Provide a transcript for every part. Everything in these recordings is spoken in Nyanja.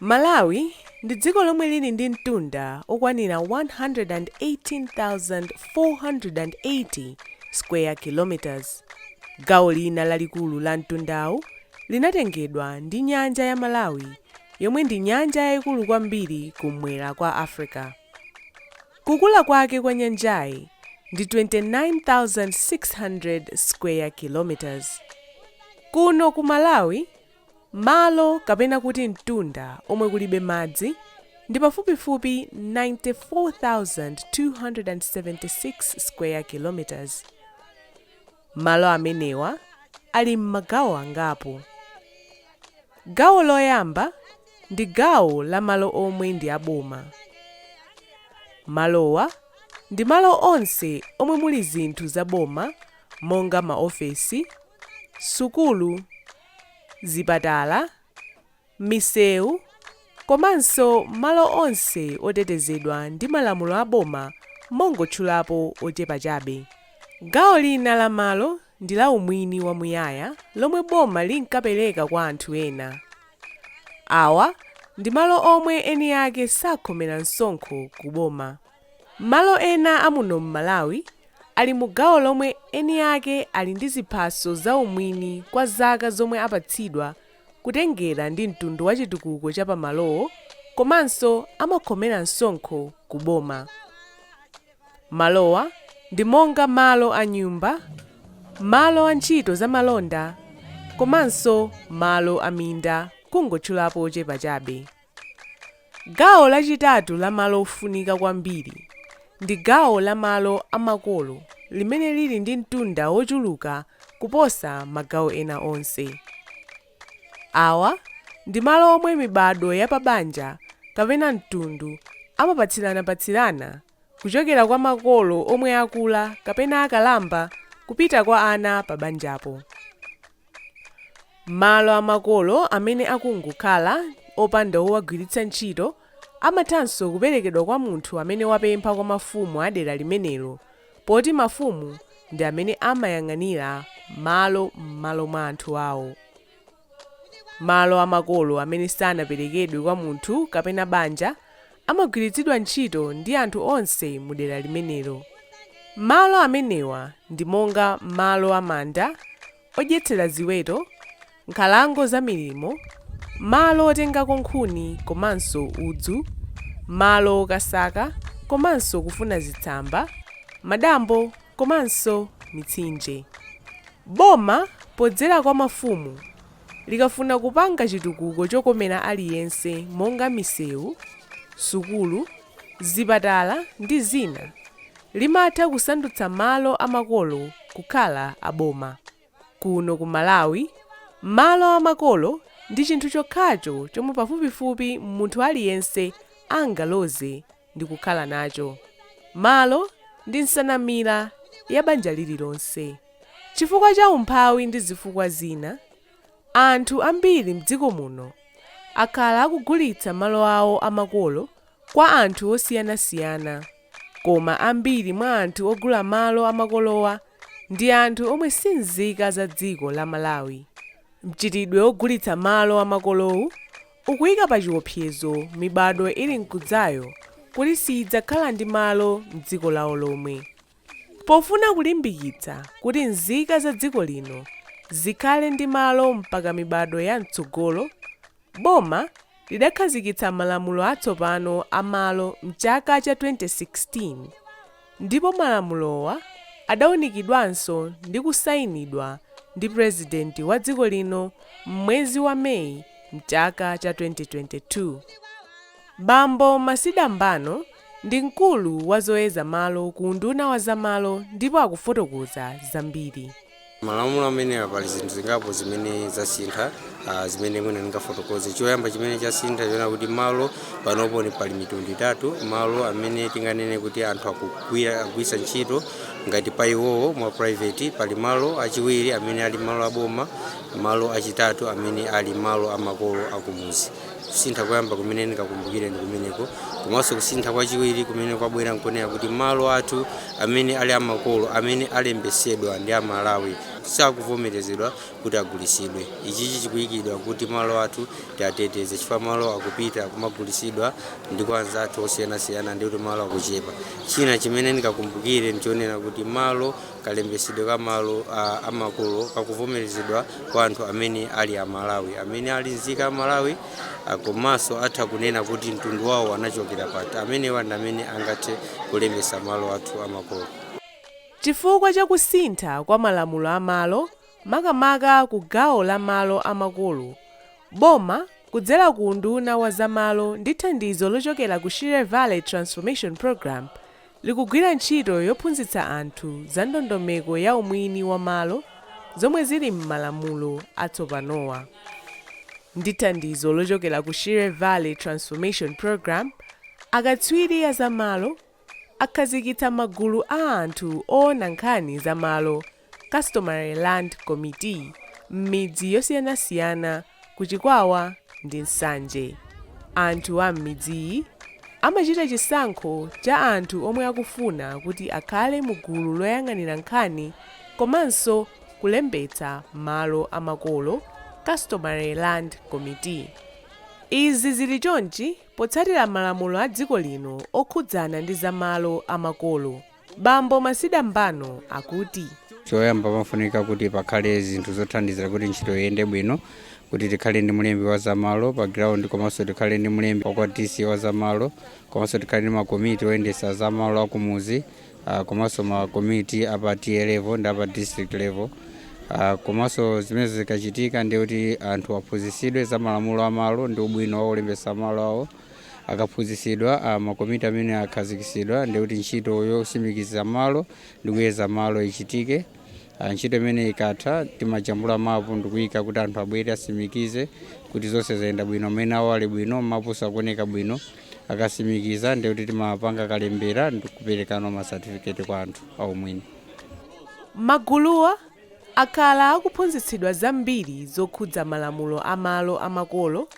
Malawi ndi dziko lomwe lili ndi mtunda okwanira 118,480 square kilometres. Gawo lina lalikulu la mtundawu linatengedwa ndi nyanja ya Malawi yomwe ndi nyanja yaikulu kwambiri kum'mwera kwa Africa. Kukula kwake kwa nyanjayi ndi 29,600 square kilometres. Kuno ku Malawi, malo kapena kuti mtunda omwe kulibe madzi ndi pafupifupi 94,276 square kilometres. Malo amenewa ali m'magawo angapo. Gawo loyamba ndi gawo la malo omwe ndi a boma. Malowa ndi malo onse omwe muli zinthu za boma monga maofesi, sukulu, zipatala, misewu komanso malo onse otetezedwa ndi malamulo a boma mongotchulapo ochepa chabe. Gawo lina la malo ndi la umwini wamuyaya lomwe boma linkapereka kwa anthu ena. Awa ndi malo omwe eni ake sakhomera msonkho ku boma. Malo ena a muno m'Malawi ali mu gawo lomwe eni ake ali ndi ziphaso za umwini kwa zaka zomwe apatsidwa kutengera ndi mtundu wa chitukuko cha pa malowo komanso amakhomera msonkho ku boma. Malowa ndi monga malo a nyumba, malo a ntchito za malonda komanso malo a minda kungotchulapo ochepa chabe. Gawo lachitatu la malo ofunika kwambiri ndi gawo la malo a makolo limene lili ndi mtunda wochuluka kuposa magawo ena onse. Awa ndi malo omwe mibadwo ya pabanja kapena mtundu amapatsiranapatsirana kuchokera kwa makolo omwe akula kapena akalamba kupita kwa ana pabanjapo. Malo a makolo amene akungokhala, opanda owagwiritsa ntchito, amathanso kuperekedwa kwa munthu amene wapempha kwa mafumu a dera limenelo, poti mafumu ndi amene amayang'anira malo m'malo mwa anthu awo. Malo a makolo amene sanaperekedwe kwa munthu kapena banja amagwiritsidwa ntchito ndi anthu onse mu dera limenelo. Malo amenewa ndi monga malo a manda, odyetsera ziweto, nkhalango za milimo, malo otengako nkhuni komanso udzu, malo okasaka komanso kufuna zitsamba, madambo komanso mitsinje. Boma podzera kwa mafumu likafuna kupanga chitukuko chokomera aliyense monga misewu, sukulu, zipatala ndi zina, limatha kusandutsa malo a makolo kukhala a boma. Kuno ku Malawi, malo a makolo ndi chinthu chokhacho chomwe pafupifupi munthu aliyense angaloze ndi kukhala nacho malo ndi nsanamira ya banja lililonse. Chifukwa cha umphawi ndi zifukwa zina, anthu ambiri m'dziko muno akhala akugulitsa malo awo a makolo kwa anthu osiyanasiyana, koma ambiri mwa anthu ogula malo a makolowa ndi anthu omwe si nzika za dziko la Malawi. Mchitidwe wogulitsa malo a makolowu ukuyika pachiwopsezo mibadwo ili mkudzayo kuti siyidzakhala ndi malo m'dziko lawo lomwe. Pofuna kulimbikitsa kuti nzika za dziko lino zikhale ndi malo mpaka mibadwo ya mtsogolo, boma lidakhazikitsa malamulo atsopano a malo m'chaka cha 2016. ndipo malamulowa adaunikidwanso ndi kusainidwa ndi Purezidenti wa dziko lino m'mwezi wa May m'chaka cha 2022. Bambo Masida Mbano ndi mkulu wa zoyeza malo ku unduna wa zamalo ndipo akufotokoza zambiri. Malamulo amenewa pali zinthu zingapo zimene zasintha, a, zimene mwina ndingafotokoze. Choyamba chimene chasintha n'chonena kuti malo panopo ni pali mitundu itatu, malo amene tinganene kuti anthu akugwiritsa ntchito ngati pa iwowo mwa private, pali malo achiwiri amene ali malo aboma, malo achitatu amene ali malo a makolo akumudzi. kusintha koyamba kumene ndingakumbukire ndi kumeneko komanso kusintha kwachiwiri kumene kwabwera nkonena kuti malo athu amene ali amakolo amene alembesedwa ndi amalawi sakuvomerezedwa kuti agulisidwe ichichi chikuyikidwa kuti malo athu tiateteze chifukwa malo akupita kumagulisidwa ndi kwa anzathu osiyanasiyana ndi kuti malo akuchepa china chimene ndingakumbukire ndichonena kuti malo Kalembetsedwe ka malo amakolo kakuvomerezedwa kwa anthu amene ali a Malawi, amene ali nzika ya Malawi komanso atha kunena kuti mtundu wawo anachokera pati. Amenewa ndi amene angathe kulembetsa malo athu a makolo. Chifukwa cha kusintha kwa malamulo a malo, makamaka ku gawo la malo a makolo, boma kudzera ku unduna wa za malo ndi thandizo lochokera ku Shire Valley Transformation Programme, likugwira ntchito yophunzitsa anthu za ndondomeko ya umwini wa malo zomwe zili m'malamulo atsopanowa. Ndi thandizo lochokera ku Shire Valley Transformation Programme, akatswiri a za malo akhazikitsa magulu a anthu oona nkhani za malo Customary Land Committee m'midzi yosiyanasiyana ku Chikwawa ndi Nsanje. Anthu a m'midziyi amachita chisankho cha anthu omwe akufuna kuti akhale mu gulu loyang'anira nkhani komanso kulembetsa malo a makolo, Customary Land Committee. Izi zili chonchi potsatira malamulo a dziko lino okhudzana ndi za malo a makolo. Bambo Masida Mbano akuti: Choyamba pamafunika kuti pakhale zinthu zothandizira kuti ntchito iyende bwino, kuti tikhale ndi mlembi wa zamalo pa ground komanso tikhale ndi mlembi wa kwa TA wa zamalo komanso tikhale ndi makomiti oyendetsa zamalo akumuzi ah, komanso makomiti a pa TA level ndi a pa district level Ah, komanso zimene zikachitika ndiye kuti anthu aphunzitsidwe za malamulo a malo ndi ubwino wolembetsa malo awo akaphunzitsidwa ah, makomiti amene akhazikitsidwa ndiye kuti ntchito yosimikiza malo ndi kuyeza malo ichitike Ah, ntchito imene ikatha timajambula mapu ndikuyika kuti anthu abwere asimikize kuti zonse zayenda bwino maina awo ali bwino mapu akuoneka bwino akasimikiza ndiye kuti timapanga kalembera ndikuperekano masatifiketi kwa anthu aumwini Maguluwa akhala akuphunzitsidwa zambiri zokhudza malamulo a malo a makolo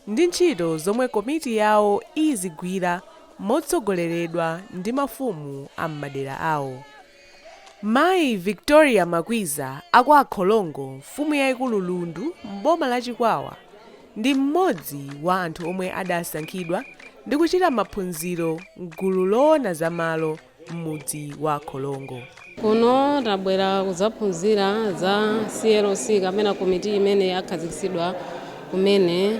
ndi ntchito zomwe komiti yawo izigwira motsogoleredwa ndi mafumu a m'madera awo. Mayi Victoria Makwiza a kwa Akholongo mfumu yaikulu Lundu m'boma la Chikwawa ndi mmodzi wa anthu omwe adasankhidwa ndi kuchita maphunziro m'gulu loona za malo, m'mudzi wa Kholongo. Kuno tabwera kudzaphunzira za CLC kapena komiti imene yakhazikitsidwa kumene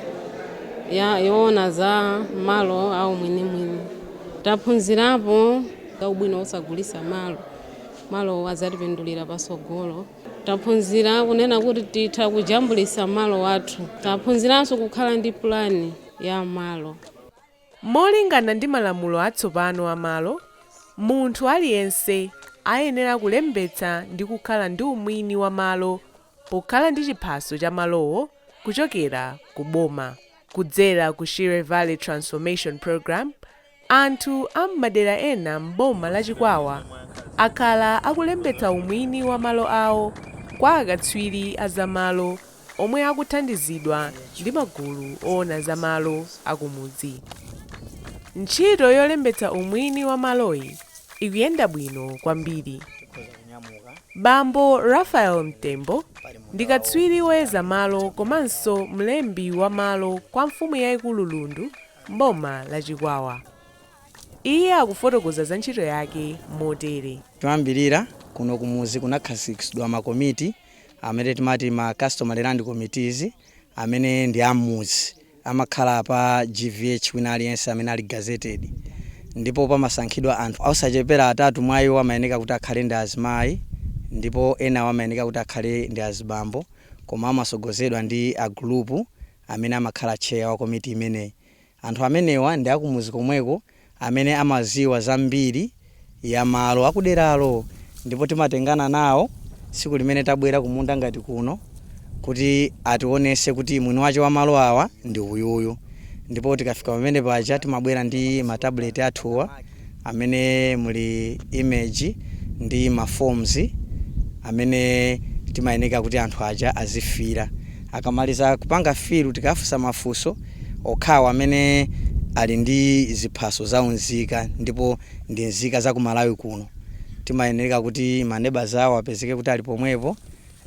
yoona za malo a umwinimwini. Taphunzirapo za ubwino wosagulitsa malo, malowo adzatipindulira patsogolo. Taphunzira kunena kuti titha kujambulitsa malo athu. Taphunziranso kukhala ndi pulani ya malo. Molingana ndi malamulo atsopano a malo, munthu aliyense ayenera kulembetsa ndi kukhala ndi umwini wa malo pokhala ndi chiphaso cha malowo kuchokera ku boma. Kudzera ku Shire Valley Transformation Programme, anthu a m'madera ena m'boma la Chikwawa akhala akulembetsa umwini wa malo awo kwa akatswiri a za malo omwe akuthandizidwa ndi magulu owona za malo akumudzi. Ntchito yolembetsa umwini wa maloyi ikuyenda bwino kwambiri. Bambo Raphael Mtembo ndi katswiri woyeza malo komanso mlembi wa malo kwa mfumu yaikulu Lundu m'boma la Chikwawa. Iye akufotokoza za ntchito yake motere. Choyambilira, kuno kumudzi kunakhazikitsidwa makomiti amene timati ma customary land committees amene ndi ammuzi amakhala pa GVH wina aliyense amene ali gazetted ndipo pamasankhidwa anthu osachepera atatu mwa iwo amayeneka kuti akhale ndi azimayi ndipo enawo amayeneka kuti akhale ndi azibambo koma amasogozedwa ndi agulupu amene amakhala tcheya wa komiti imeneyi. Anthu amenewa ndi akumudzi komweko amene amadziwa za mbiri ya malo akuderalo ndipo timatengana nawo tsiku limene tabwera kumunda ngati kuno kuti ationetse kuti mwini wache wa malo awa ndi uyuyu ndipo tikafika pamene paja timabwera ndi ma tablet athuwa amene muli image ndi ma forms amene timayeneka kuti anthu aja azifila akamaliza kupanga fill tikafunsa mafunso okhawo amene ali ndi ziphaso za unzika ndipo ndi nzika za ku Malawi kuno timayeneka kuti maneba awo apezeke kuti ali pomwepo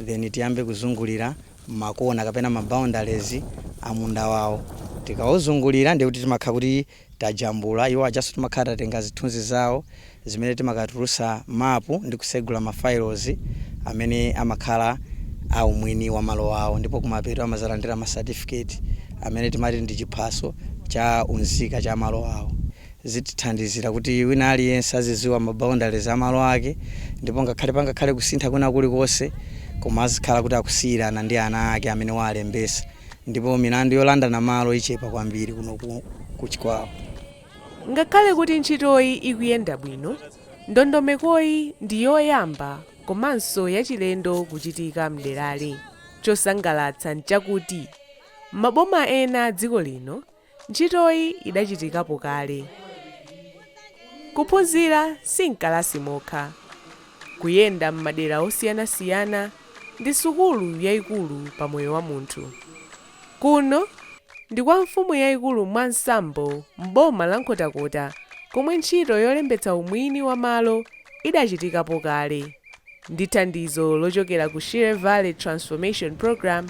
then tiyambe kuzungulira makona kapena ma boundaries a munda wawo tikauzungulira ndi kuti timakhala kuti tajambula, iwo ajanso timakhala tatenga zithunzi zawo zimene timakatulutsa mapu ndi kutsegula ma files amene amakhala a umwini wa malo awo ndipo kumapeto amadzalandira ma certificate amene timati ndi chiphaso cha unzika cha malo awo. Zitithandizira kuti wina aliyense azidziwa ma boundaries a malo ake ndipo ngakhale pangakhale kusintha kwina kulikonse koma azikhala kuti akusiyirana ndi ana ake amene waalembetsa. ndipo milandu yolandana malo ichepa kwambiri kuno ku Chikwawa. Ngakhale kuti ntchitoyi ikuyenda bwino, ndondomekoyi ndi yoyamba komanso yachilendo kuchitika m'derali. Chosangalatsa n'chakuti maboma ena a dziko lino Ntchitoyi idachitikapo kale. Kuphunzira si m'kalasi mokha. Kuyenda m'madera osiyanasiyana ndi sukulu yaikulu pa moyo wa munthu. Kuno ndi kwa mfumu yaikulu Mwansambo m'boma la Nkhotakota komwe ntchito yolembetsa umwini wa malo idachitikapo kale ndi thandizo lochokera ku Shire Valley Transformation Programme,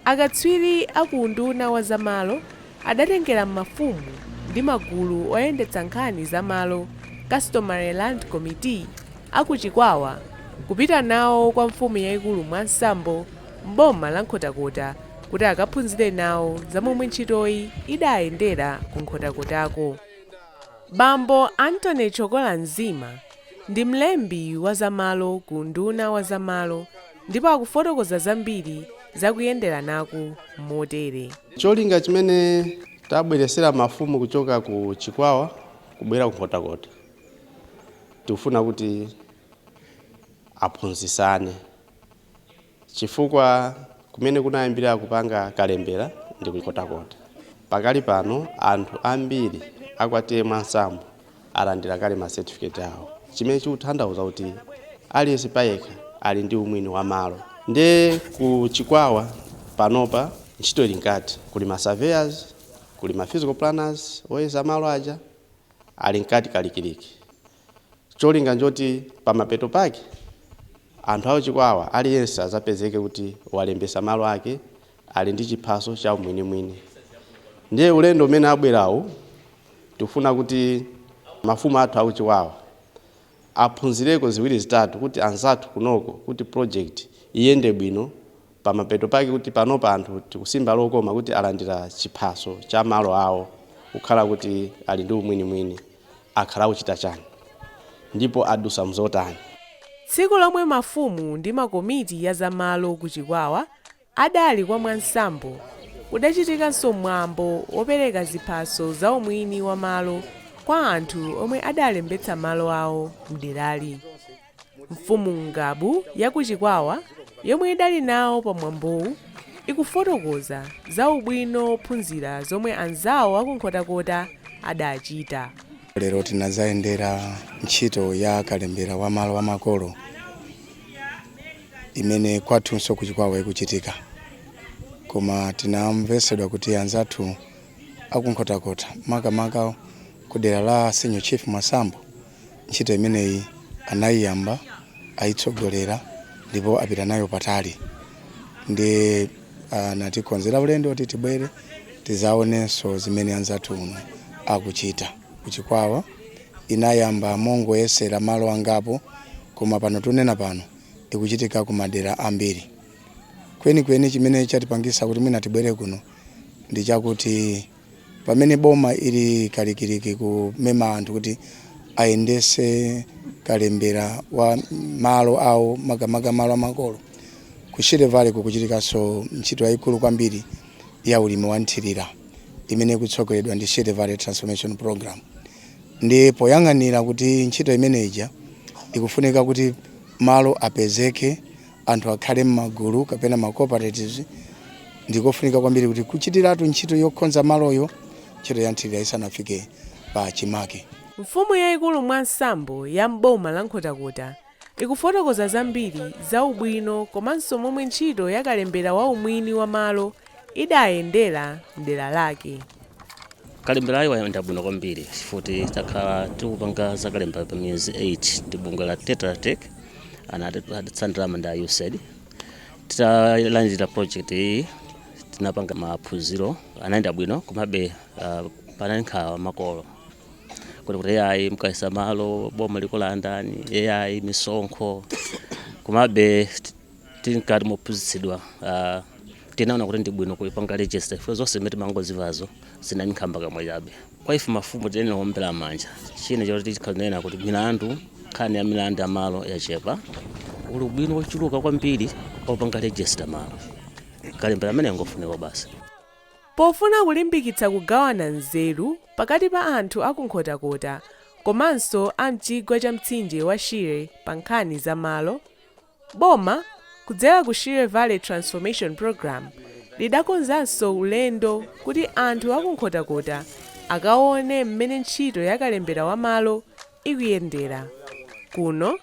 Akatswiri a ku unduna wa za malo adatengera mafumu ndi magulu oyendetsa nkhani za malo, Customary Land Committee, a ku Chikwawa kupita nawo kwa mfumu yaikulu Mwansambo m'boma la Nkhotakota kuti akaphunzire nawo za momwe ntchitoyi idayendera ku Nkhotakotako. Bambo Anthony Chokola Nzima ndi mlembi wa za malo ku unduna wa za malo. ndipo akufotokoza zambiri za kuyenderanaku motere. Cholinga chimene tabweretsera mafumu kuchoka ku Chikwawa kubwera ku Nkhotakota tikufuna kuti aphunzitsane, chifukwa kumene kunayambira kupanga kalembera ndi ku Nkhotakota. Pakali pano anthu ambiri a kwa T/A Mwansambo alandira kale ma certificate awo chimene chikutanthauza kuti aliyense payekha ali ndi umwini wa malo nde ku chikwawa panopa ntchito ili mkati kuli ma surveyors kuli ma physical planners oyeza malo aja ali mkati kalikiliki cholinga njoti pamapeto pake anthu a ku Chikwawa aliyense azapezeke kuti walembesa malo ake ali ndi chiphaso cha umwinimwini ndiye ulendo umene abwerawu tikufuna kuti mafumu athu a ku Chikwawa aphunzireko ziwiri zitatu kuti anzathu kunoko kuti project iyende bwino pamapeto pake kuti panopa anthu tikusimba lokoma kuti alandira chiphaso cha malo awo kukhala kuti ali ndi umwinimwini akhala akuchita chani ndipo adusa mzotani Tsiku lomwe mafumu ndi makomiti a za malo ku Chikwawa Adali kwa Mwansambo kudachitikanso mwambo wopereka ziphaso za umwini wa malo kwa anthu omwe adalembetsa malo awo m'derali. Mfumu Ngabu ya ku Chikwawa yomwe idali nawo pa mwambowu ikufotokoza za ubwino wophunzira zomwe anzawo a ku Nkhotakota adachita. Lero tinazayendera ntchito ya kalembera wa malo a makolo. imene kwathunso ku Chikwawa ikuchitika, koma tinamvetsedwa kuti anzathu a ku Nkhotakota makamaka ku dera la Senior Chief Mwansambo ntchito imeneyi anayiyamba ayitsogolera ndipo apita nayo patali nde anatikonzera ulendo kuti tibwere tizaonenso zimene anzathu kuno akuchita. ku Chikwawa inayamba mongoyesera malo angapo koma pano tunena pano ikuchitika ku madera ambiri. Kwenikweni chimene chatipangisa kuti mwina tibwere kuno ndi chakuti pamene boma ili kalikiliki kumema anthu kuti ayendese kalembera wa malo awo makamaka malo amakolo ku Shire Valley kukuchitikanso ntchito yayikulu kwambiri ya ulimi wa nthirira imene ikutsogoleredwa ndi Shire Valley Transformation Program ndi poyang'anira kuti ntchito imene ija ikufunika kuti malo apezeke anthu akhale m'magulu kapena ma cooperatives ndikofunika kwambiri kuti kuchitiratu ntchito yokonza maloyo ntchito ya nthirira isanafike pa chimake Mfumu yaikulu Mwansambo ya m'boma la Nkhotakota ikufotokoza zambiri za ubwino komanso momwe ntchito ya kalembera wa umwini wa malo idayendera m'dera lake. Kalemberayu wayenda bwino kwambiri chifuti takhala tikupanga za kalembera pa miyezi 8 ndi bungwe la Tetra Tech anatithandiza thandizo la USAID. Titalandira project iyi tinapanga maphunziro anayenda bwino komabe uh, panali nkhawa makolo kuti kuti ayi mukayeza malo boma likulandani ayi misonkho komabe t- titati taphunzitsidwa ah, tinaona kuti ndi bwino kuipanga register ifo zonse zimene timangozimvazo zinali nkhambakamwa chabe kwa ife mafumu tiyenera kuombera manja china choti tikanena kuti milandu nkhani ya milandu ya malo yachepa uli ubwino wochuluka kwambiri popanga register malo kalembera ameneyu ngofunika basi Pofuna kulimbikitsa kugawana nzeru pakati pa anthu a ku Nkhotakota komanso a m'chigwa cha mtsinje wa Shire pa nkhani za malo, boma kudzera ku Shire Valley Transformation Programme lidakonzanso ulendo kuti anthu a ku Nkhotakota akaone mmene ntchito ya kalembera wa malo ikuyendera kuno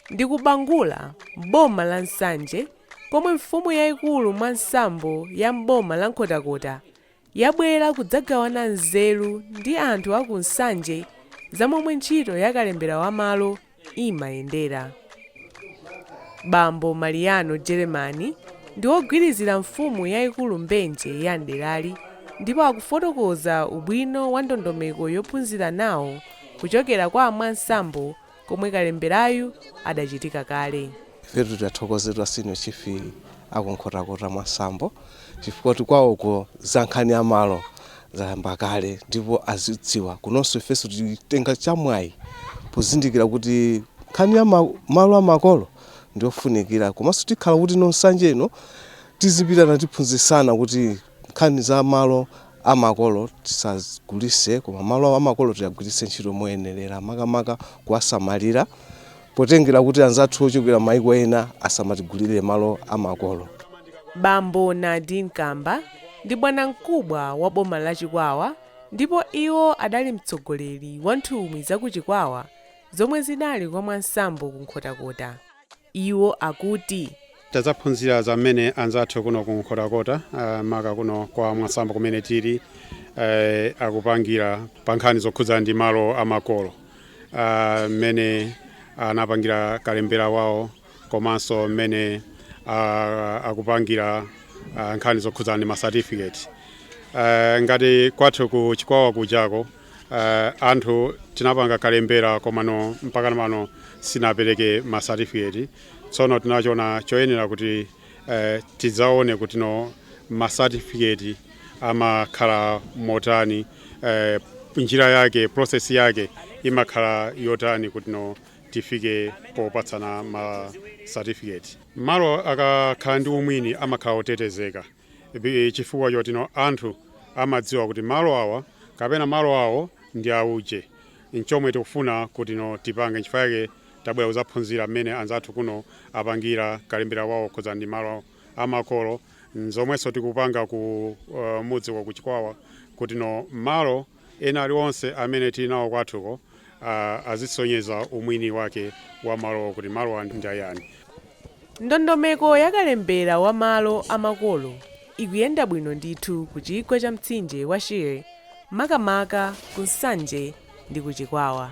ndi ku Bangula m'boma la Nsanje. komwe mfumu yaikulu Mwansambo ya m'boma la Nkhotakota yabwera kudzagawana nzeru ndi anthu a ku Nsanje za momwe ntchito ya kalembera wa malo imayendera. Bambo Mariano Jeremani ndi wogwirizira mfumu yaikulu Mbenje ya m'derali ndipo akufotokoza ubwino wa ndondomeko yophunzirana kuchokera kwa a Mwansambo komwe kalemberayu adachitika kale. Ifetu tiwathokoze a Senior Chief a ku Nkhotakota Mwansambo chifukwa kuti kwawoko za nkhani ya malo zayamba kale ndipo azidziwa. Kunonso ifenso titenga chamwayi pozindikira kuti nkhani ya ma- malo a makolo ndiyofunikira komanso tikhala kuti Nsanje ino tizipitana tiphunzitsana kuti Nkhani za malo amakolo tisagulise koma malo amakolo tiagwiritse ntchito moyenerera makamaka kuwasamalira potengera kuti anzathu ochokera maiko ena asamatigulire malo amakolo. Bambo Nardin Kamba ndi bwanamkubwa wa boma la Chikwawa ndipo iwo adali mtsogoleri wa nthumwi za ku Chikwawa zomwe zinali kwa Mwansambo ku Nkhotakota. Iwo akuti. Tadzaphunzira za mmene anzathu kuno ku Nkhotakota maka kuno kwa Mwansambo kumene tili akupangira pa nkhani zokhudza ndi malo a makolo, mmene anapangira kalembera wawo komanso mmene akupangira nkhani zokhudza ndi ma certificate. Ngati kwathu ku Chikwawa kujako Uh, anthu tinapanga kalembera komano mpaka pano sitinapereke ma certificate tsono tinachona choyenera kuti uh, tidzaone kuti ano ma certificate amakhala motani uh, njira yake process yake imakhala yotani kuti ino tifike popatsana ma certificate malo akakhala ndi umwini amakhala otetezeka Chifukwa choti no anthu amadziwa kuti malo awa kapena malo awo ndi auje nchomwe tikufuna kuti no tipange nchifukwa chake tabwera kuzaphunzira mmene anzathu kuno apangira kalembera wawo okhudza ndi malo amakolo nzomwenso tikupanga ku mudzi wa ku chikwawa kuti no malo Ena alionse amene tili nawo kwathuko azisonyeza umwini wake wa malo kuti malowa ndi ayani. Ndondomeko ya kalembera wa malo a makolo ikuyenda bwino ndithu ku chigwa cha mtsinje wa Shire makamaka ku Nsanje ndi ku Chikwawa.